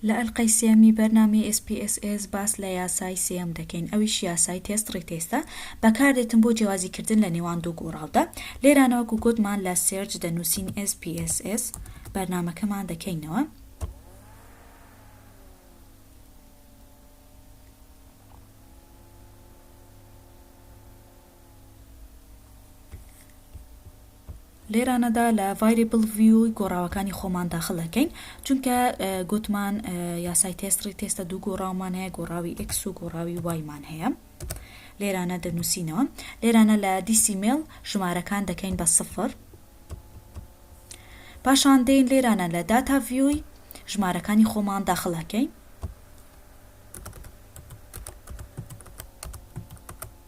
لە ئەلقەی سێیەمی بەرنامەی ئێس پی ئێس ئێس باس لە یاسای سێیەم دەکەین ئەویش یاسای تێست ڕیتێستە بەکاردێتن بۆ جێوازی کردن لە نێوان دوو گۆڕاودا لێرانەوە گوو گۆتمان لە سێرچ دەنوسین ئێس پی ئێس ئێس بەرنامەکەمان دەکەینەوە. لێرانەدا لە ڤایرێبڵ ڤیو ی گۆڕاوەکانی خۆمان داخل ئەکەین چونکە گۆتمان یاسای تێست ڕی تێستە دوو گۆڕاومان هەیە گۆڕاوی ئێکس و گۆڕاوی وایمان هەیە لێرانە دەنووسینەوە لێرانە لە دیسیمێل ژمارەکان دەکەین بە سفر پاشان دێین لێرانە لە داتا ڤیوی ژمارەکانی خۆمان داخل ئەکەین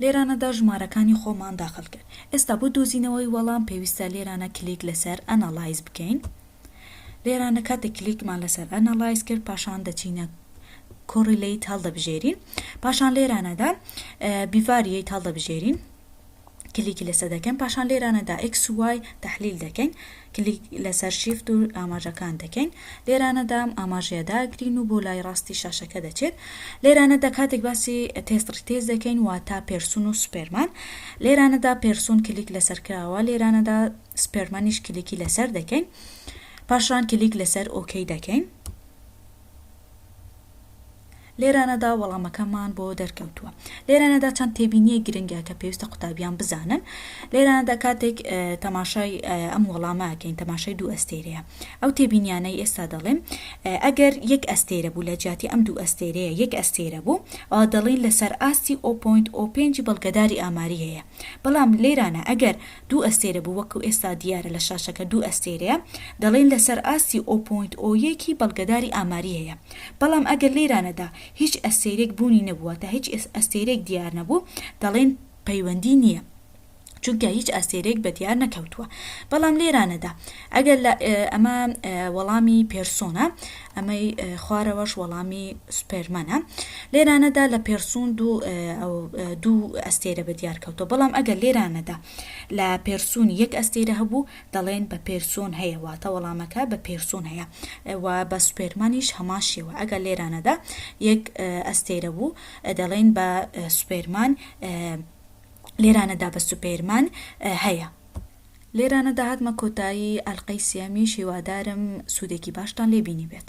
لێرانەدا ژمارەکانی خۆمان داخل کرد ئێستا بۆ دۆزینەوەی وەڵام پێویستە لێرانە کلیک لەسەر Analyze بکەین لێرانە کاتێک کلیکمان لەسەر Analyze کرد پاشان دەچینە Correlate هەڵدەبژێرین پاشان لێرانەدا Bivariate هەڵدەبژێرین کلیکی لەسە دەکەین پاشان لێرانە دا ئێکس و وای تەحلیل دەکەین کلیک لەسەر شیفت و ئاماژەکان دەکەین لێرانە دا ئەم ئاماژەیە داگرین و بۆ لای ڕاستی شاشەکە دەچێت لێرانە دا کاتێک باسی تێست ڕیتێز دەکەین واتا پێرسون و سوپێرمان لێرانە دا پێرسون کلیک لەسەر کراوە لێرانە دا سوپێرمانیش کلیکی لەسەر دەکەین پاشان کلیک لەسەر ئۆکەی دەکەین. لێرانەدا وەڵامەکەمان بۆ دەرکەوتووە. لێرانەدا چەند تێبینییەک گرنگە کە پێویستە قوتابیان بزانن. لێرانەدا کاتێک تەماشای ئەم وەڵامە ئەکەین، تەماشای دوو ئەستێرەیە. ئەو تێبینیانەی ئێستا دەڵێم، ئەگەر یەک ئەستێرە بوو، لە جیاتی ئەم دوو ئەستێرەیە یەک ئەستێرە بوو، ئەوا دەڵێین لەسەر ئاستی ئۆ پۆینت ئۆ پێنجی بەڵگەداری ئاماری هەیە. بەڵام لێرانە ئەگەر دوو ئەستێرە بوو وەکو ئێستا دیارە لە شاشەکە دوو ئەستێرەیە دەڵێن لەسەر ئاستی ئۆ پۆینت ئۆ یەکی بەڵگەداری ئاماری هەیە بەڵام ئەگەر لێرانەدا هیچ ئەستێرێک بوونی نەبوو واتە هیچ ئەستێرێک دیار نەبوو دەڵێن پەیوەندی نییە چونکە هیچ ئەستێرێک بە دیار نەکەوتووە بەڵام لێرانەدا ئەگەر لە ئەمە وەڵامی پێرسۆنە ئەمەی خوارەوەش وەڵامی سوپێرمەنە. لێرانەدا لە پێرسون دوو دوو ئەستێرە بە دیار کەوتەوە، بەڵام ئەگەر لێرانەدا لە پێرسون یەک ئەستێرە هەبوو، دەڵێین بە پێرسون هەیە، واتە وەڵامەکە بە پێرسون هەیە و بە سوپێرمانیش هەمان شێوە، ئەگەر لێرانەدا یەک ئەستێرە بوو، دەڵێین بە سوپێرمان، لێرانەدا بە سوپێرمان هەیە. لێرانەدا هاتمە کۆتایی ئەلقەی سێیەمیش هیوادارم سودێکی باشتان لێ بینیبێت.